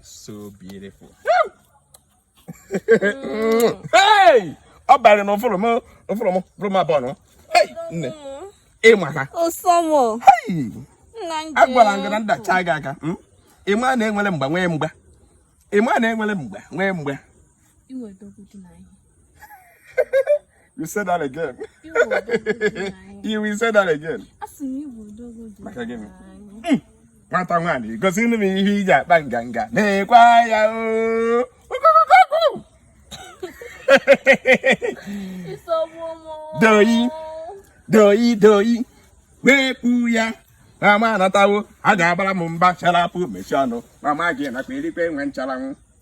so beautiful hey ọ bara na ụfụrụ m ụfụrụ m bụrụ m abụọ nọ hey nne ịma ha osomo hey nna nje agwara m gị na ndacha gị aka mm? ịma na enwere mgba nwee mgba ịma na enwere mgba nwee mgba iwe dogo dị na ihe You said that again. You will say that again. Maka gịnị? Hmm. Nwata nwaanyị gosi nụ m ihe i ji akpa nganga nekwa ya oo. Doyi, doyi, doyi, wepụ ya. Mama anatawo, a ga-abara m mba chara apụ mechie ọnụ. Mama gị nakwa erikwe nwe ncharanwụ.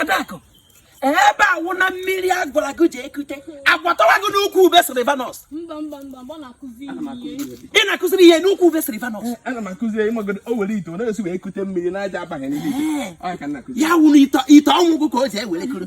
adaku ebe a wụ na mmiri a gwara gị jee kute agwatọwa gị n'ukwu ube sylvanus ị na-akụziri ihe n'ukwu ube sylvanus eh, ana m akụzi ịmagodo o were ite ọ na-esi wee kute mmiri na aja abaghị n'ime ite eh. ya wụ na ite ọnwụ gị ka o ji ewere kuru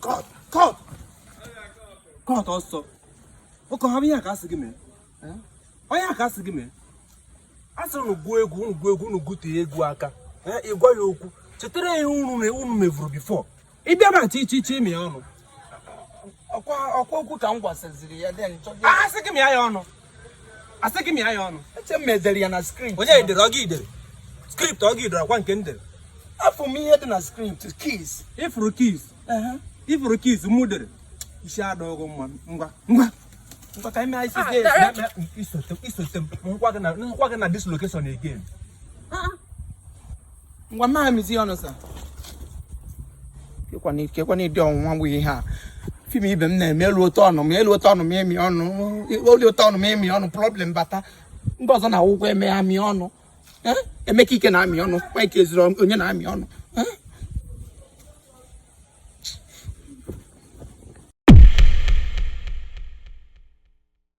Cut, cut, cut ọsọ. Ụkọ ha bụ ihe a ka a sị gị mee. Ọ ihe a ka a sị gị mee. A sịrị unu gụọ egwu, unu gụọ egwu, unu gụtee egwu aka. Eh, Ị gwa ya okwu. Chetara ya ihe unu na unu mevuru before. Ị bịa na chi chi chi mịa ọnụ. ọkwa ọkwa okwu ka m gwasịziri ya then chọọ gị A sị gị mịa ya ọnụ. asị gị mịa ya ọnụ eche m e dere ya na script onye dere ọ gị dere script ọ gị dere ọkwa nke m dere afụ m ihe dị na script kiss ị fụrụ kiss ị fụrụ kiss mụ dere isi adịrọ gị mma ngwa ngwa ngwa ka ime isi gị isote m m hụkwa gị na this location again ngwa m ma mịzi ọnụ sa kekwanụ kekwanụ ụdị ọnwụnwa bụ ihe a film ibe m na-eme eluo turn m eluo turn m emi ọnụ o luo turn m emi ọnụ problem bata ndị ọzọ na-awụkwa eme amị ọnụ Eh? emeka ike na-amị ọnụ mike ezuruonye na-amị ọnụ Eh?